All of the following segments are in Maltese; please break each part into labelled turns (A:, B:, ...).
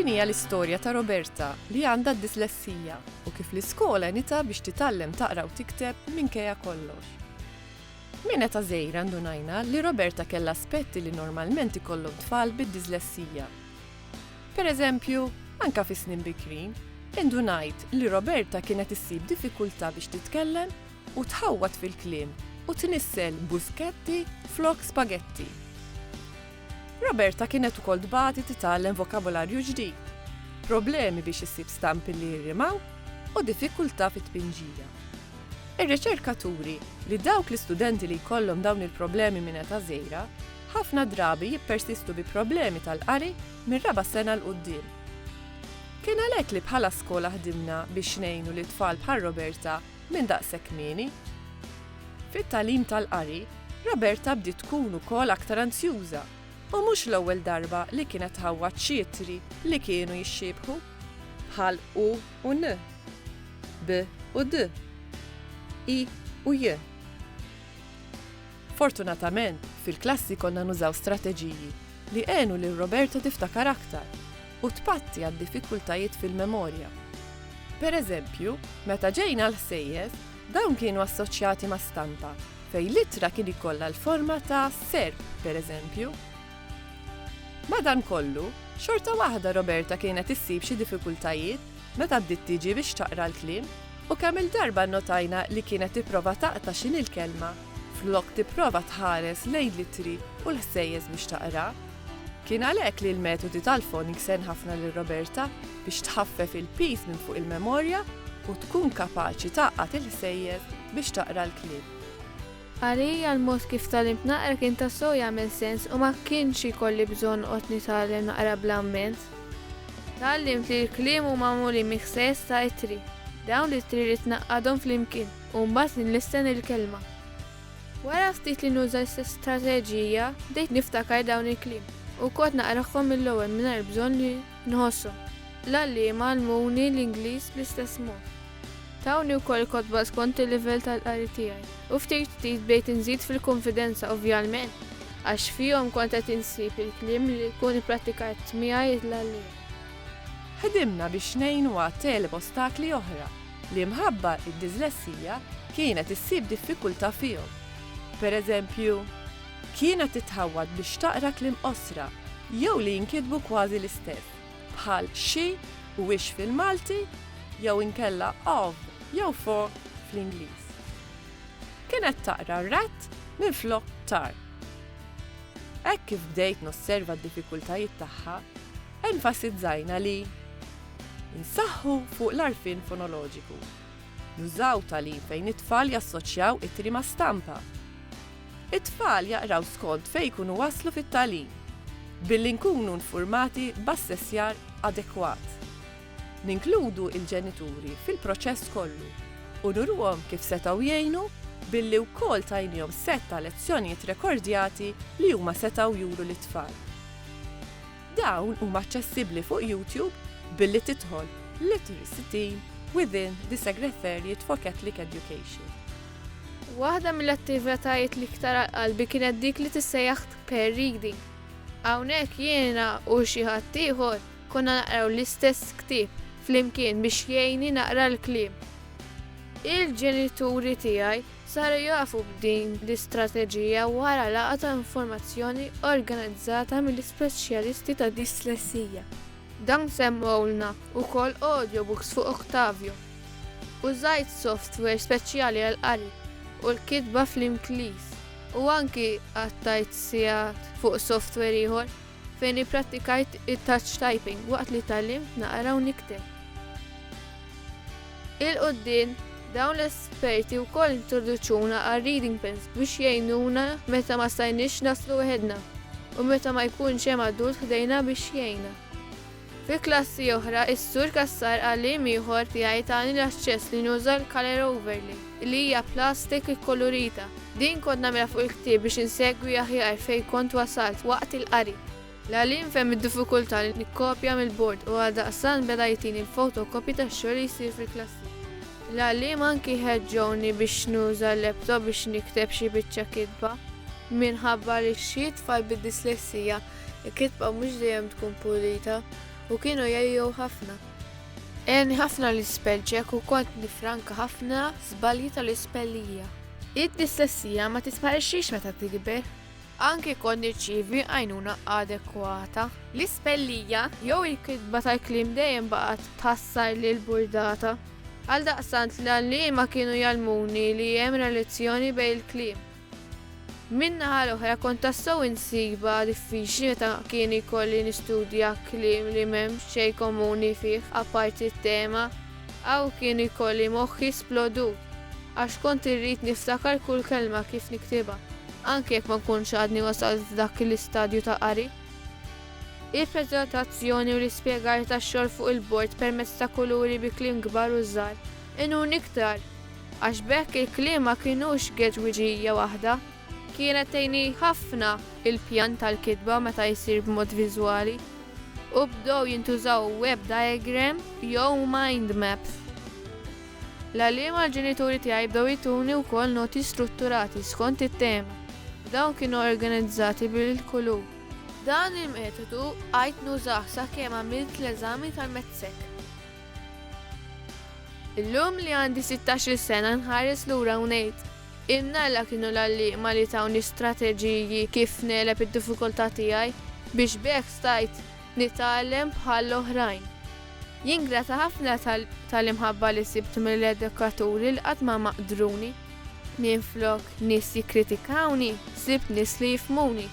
A: Din hija l-istorja ta' Roberta li għandha d-dislessija u kif l-iskola nita biex titgħallem taqra u tikteb minkejja kollox. Minn eta żejra ndunajna li Roberta kellha aspetti li normalment ikollhom tfal bid-dislessija. Pereżempju, anke fi snin bikrin, indunajt li Roberta kienet issib diffikultà biex titkellem u tħawwad fil-kliem u tnissel bużketti flok spagetti. Roberta kienet ukoll tbati titgħallem vokabolarju ġdid, problemi biex issib stampi li jirrimaw u diffikultà fit-tpinġija. Ir-riċerka turi li dawk l-istudenti li jkollhom dawn il-problemi minn età żgħira, Ħafna drabi jippersistu bi problemi tal-qari mir-raba' sena 'l quddiem. Kien għalhekk li bħala skola ħdimna biex ngħinu lil tfal bħal Roberta minn daqshekk kmieni. Fit-tagħlim tal-qari, Roberta bdiet tkun ukoll aktar anzjuża u mhux l-ewwel darba li kienet tħawwad xi ittri li kienu jixxiebħu, bħal u u n, b u d, i u j. Fortunatament, fil-klassi konna nużaw strateġiji li għenu lil Roberta tiftakar aktar u tpatti għad-diffikultajiet fil-memorja. Pereżempju, meta ġejna għall-ħsejjes, dawn kienu assoċjati ma' stampa fejn l-ittra kien ikollha l-forma ta' serp, pereżempju. Madankollu, xorta waħda Roberta kienet issib xi diffikultajiet meta bdiet tiġi biex taqra l-kliem u kemm-il darba nnotajna li kienet tipprova taqta' x'inhi l-kelma flok tipprova tħares lejn l-ittri u l-ħsejjes biex taqra. Kien għalhekk li l-metodi tal-Phonics għen ħafna lil Roberta biex tħaffef il-piż minn fuq il-memorja u tkun kapaċi tgħaqqad il-ħsejjes biex taqra l-kliem. Għalija
B: l-mod kif tgħallimt naqra kien tassew jagħmel sens u ma kienx ikolli bżonn noqgħod nitgħallem naqra bl-amment. Tgħallimt li l-kliem huma magħmulin minn ħsejjes ta' ittri. Dawn l-ittri rrid ngħaqqadhom flimkien. u mbagħad li nistenna l-kelma. Wara ftit li nuża l-istess strateġija, bdejt niftakar dawn il-kliem u kont naqrahom mill-ewwel mingħajr bżonn li nħosshom. L-għalliema għallmuni l-Ingliż bl-istess mod. Tawni wkoll kotba skont il-livell tal-qari tiegħi u ftit ftit bdejt inżid fil-kunfidenza ovvjalment għax fihom kont qed insib il-kliem li jkun ipprattikat miegħi l-għalliem.
A: Ħdimna biex ngħinu għat-teleb ostakli oħra li mħabba d-dislessija kienet issib diffikultà fihom. Pereżempju, kienet titħawwad biex taqra kliem qosra jew li jinkitbu kważi l-istess, bħal xi u ix fil-Malti jew inkella of jew for fl-Ingliż. Kienet taqra rat minflok tar. Hekk kif bdejt nosserva d-diffikultajiet tagħha, Enfasizzajna li nsaħħu fuq l-għarfien fonoloġiku, nużaw tagħlim fejn it-tfal jassoċjaw ittri ma' stampa. It-tfal jaqraw skont fejn jkunu waslu fit-tagħlim, billi nkunu nfurmati b'assessjar adekwat. Ninkludu il-ġenituri fil-proċess kollu u nuruhom kif setgħu jgħinu billi wkoll tajniehom sett ta' lezzjonijiet rekordjati li huma setgħu juru lit-tfal. Dawn huma aċċessibbli fuq YouTube billi tidħol Literacy Team within the Segretariat for Catholic Education.
B: Waħda mill-attivitajiet l-iktar għal qalbi kienet dik li tissejjaħ pair reading. Hawnhekk jiena u xi ħadd ieħor konna naqraw l-istess ktieb flimkien biex jgħinni naqra l-kliem. Il-ġenituri tiegħi Saru jafu b'din l-istrateġija wara laqgħa ta' informazzjoni organizzata mill-ispeċjalisti ta' dislessija. Dawn semmewlna wkoll audiobooks fuq Octavio. Użajt software speċjali għall-qari u l-kitba fl-Ingliż u anki qattajt sigħat fuq software ieħor. fejn ipprattikajt it-touch typing waqt li tgħallimt naqra u nikteb. Il-quddiem, dawn l-esperti wkoll introduċuna għal reading pens biex jgħinuna meta ma stajniex naslu weħedna u meta ma jkunx hemm adult ħdejna biex jgħinna. Fi klassi oħra, is-Sur Cassar qal li jiem ieħor tiegħi tani l-aċċess li nuża l-colour overlay, li hija plastik ikkolurita. Din kont nagħmilha fuq il-ktieb biex insegwi aħjar fejn kont wasalt waqt il-qari. L-għallim fehem id-diffikultà li nikkopja mill-bord u għaldaqstant beda jtini l-photocopy tax-xogħol li jsir fil-klassi. L-għalliema anki ħeġġewni biex nuża l-laptop biex nikteb xi biċċa kitba. Minħabba li xi tfal bid-dislessija, Il-kitba mhux dejjem tkun pulita u kienu jgħijew ħafna. Għeni ħafna l-ispell ċek u kont nifranka ħafna żbalji tal-ispellija. Id-dislessija ma tisparixxix meta tikber. Anki kont nirċievi għajnuna adekwata. L-ispellija jew il-kitba tal-kliem dejjem baqgħet tħassar lil burdata. Għal daqsant l-għalliema kienu jgħallmuni li hemm relazzjoni bejn il-kliem Min-naħa l-oħra kont tassew insibha diffiċli meta kien ikolli nistudja kliem li m'hemm xejn komuni fih apparti t-tema. Hawn kien ikolli moħħi splodut għax kont irrid niftakar kull kelma kif niktibha, anke jekk ma nkunx għadni wasalt f'dak l-istadju ta' qari. Il-preżentazzjoni u l-ispjegar tax-xogħol fuq il-bord permezz ta' kuluri bi kliem kbar u żgħar għenuni iktar. Għax b'hekk il-kliem ma kinux geġwiġija waħda. Kienet tgħinni ħafna l-pjan tal-kitba meta jsir b'mod viżwali, u bdew jintużaw web diagrams jew mind maps. L-għalliema l-ġenituri tiegħi bdew jtuni wkoll noti strutturati skont it-tema. Dawn kienu organizzati bil-kulur. Dan il-metodu għidt nużah sakemm għamilt l-eżami tal-METSEC. Illum li għandi sittax-il sena nħares lura u ngħid, Ilna Alla kienu l-għalliema li tawni strateġiji kif negħleb id-diffikultà tiegħi biex b'hekk stajt nitgħallem bħall-oħrajn. Jien grata ħafna tal-imħabba li sibt mill-edukaturi li qatt ma maqdruni. Minflok nies jikkritikawni, sibt nies li jifhmuni.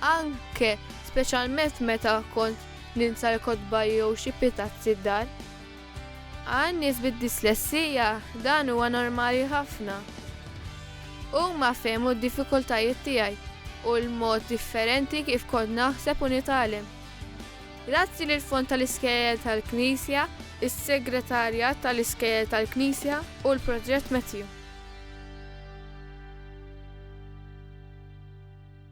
B: Anke, speċjalment meta kont ninsa l-kotba jew xi pitazzi d-dar. Għal nies bid-dislessija dan huwa normali ħafna. Huma fehmu d-diffikultajiet tiegħi u l-mod differenti kif kont naħseb u nitgħallem. Grazzi lill-Fond tal-Iskejjel tal-Knisja, is-Segretarjat tal-Iskejjel tal-Knisja u l-Proġett Matthew.